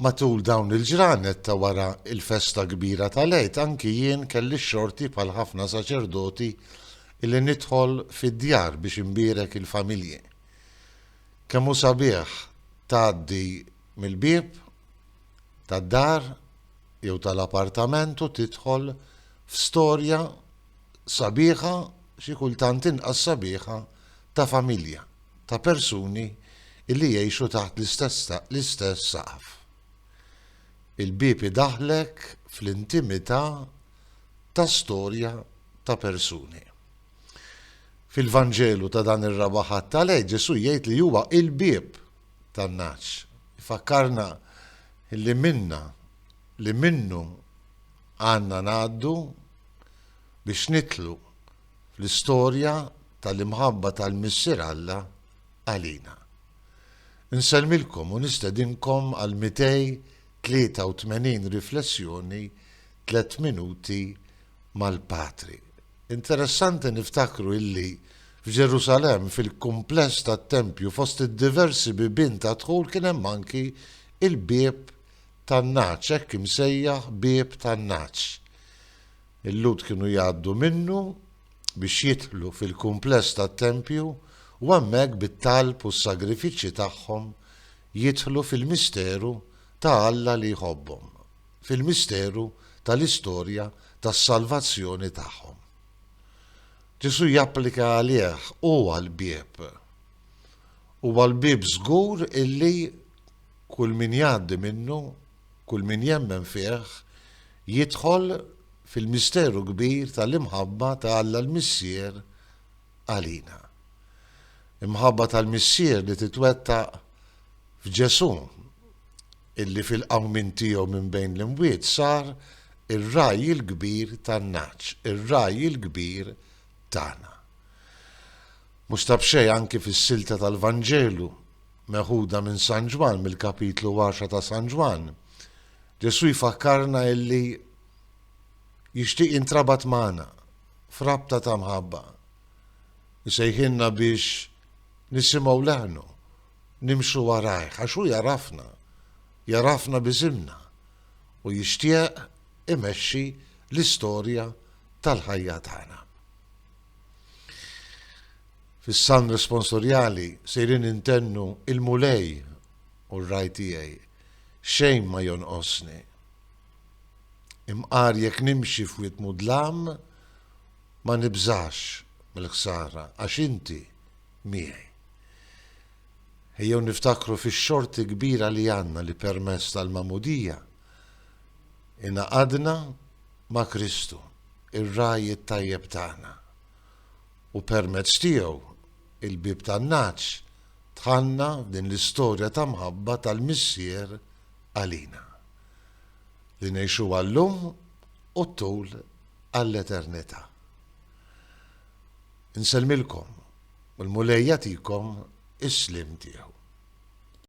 Matul dawn il-ġranet ta' wara l-festa kbira tal-Għid anki jien kelli x-xorti bħal ħafna saċerdoti li nidħol fid-djar biex inbierek il-familji. Kemm hu sabiħ tgħaddi mill-bieb tad-dar jew tal-apartament u tidħol f'storja sabiħa, xi kultant inqas sabiħa, ta' familja, ta' persuni li jgħixu taħt l-istess saqaf. Il-bieb idaħħlek fl-intimità ta' storja ta' persuni. Fil-Vanġelu ta' dan ir-Raba' Ħadd tal-Għid Ġesù jgħid li huwa il-bieb tan-nagħaġ. Ifakkarna li minna li minnu għandna ngħaddu biex nidħlu fl-istorja tal-imħabba tal-Missier Alla għalina. Insellmilkom u nistedinkom għal 283 riflessjoni tliet minuti mal-Patri. Interessanti niftakru illi f'Ġerusalem fil-kumpless tat-tempju fost id-diversi bibien ta' dħul kien hemm anki il-bieb tan-nagħaġ, hekk imsejjaħ bieb tan-nagħaġ. Il-Lhud kienu jgħaddu minnu biex jidħlu fil-kumpless tat-tempju u hemmhekk bit-talb u s-sagrifiċċji tagħhom jidħlu fil-misteru ta' Alla li jħobbhom, fil-misteru tal-istorja tas-salvazzjoni tagħhom. Ġesù japplika għalih huwa l-bieb. Huwa l-bieb żgur illi Kull min jgħaddi minnu, kull min jemmen fih, jidħol fil-misteru kbir tal-imħabba ta' Alla l-Missier għalina. Imħabba tal-Missier li titwettaq f'Ġesù, illi fil-qawmien tiegħu minn bejn l-imwiet sar ir-Ragħaj il-Kbir tan-nagħaġ, ir-Ragħaj il-Kbir tagħna. Mhux ta' b'xejn anki fis-silta tal-Vanġelu Meħuda minn San Ġwann, mill-kapitlu għaxra ta' San Ġwann, Ġesù jfakkarna illi jixtieq jintrabat magħna f'rabta ta' mħabba. Isejħilna biex nisimgħu leħnu, nimxu warajh, għax hu jagħrafna, jagħrafna b'isimna u jixtieq imexxi l-istorja tal-ħajja tagħna. Fis-Salm Responsorjali sejrin intennu Il-Mulej hu r-Ragħaj tiegħi, xejn ma jonqosni. Imqar jekk nimxi f'wied mudlam, ma nibżax mill-ħsara għax Inti miegħi. Ejjew niftakru fix-xorti kbira li għandna li permezz tal-Magħmudija ingħaqadna ma' Kristu, ir-Ragħaj it-tajjeb tagħna. u permezz tiegħu il-bieb tan-nagħaġ tħanna f'din l-istorja ta' mħabba tal-Missier għalina, li ngħixuha llum u t-tul għall-eternità. Insellmilkom u l-Mulej jagħtikom is-sliem tiegħu.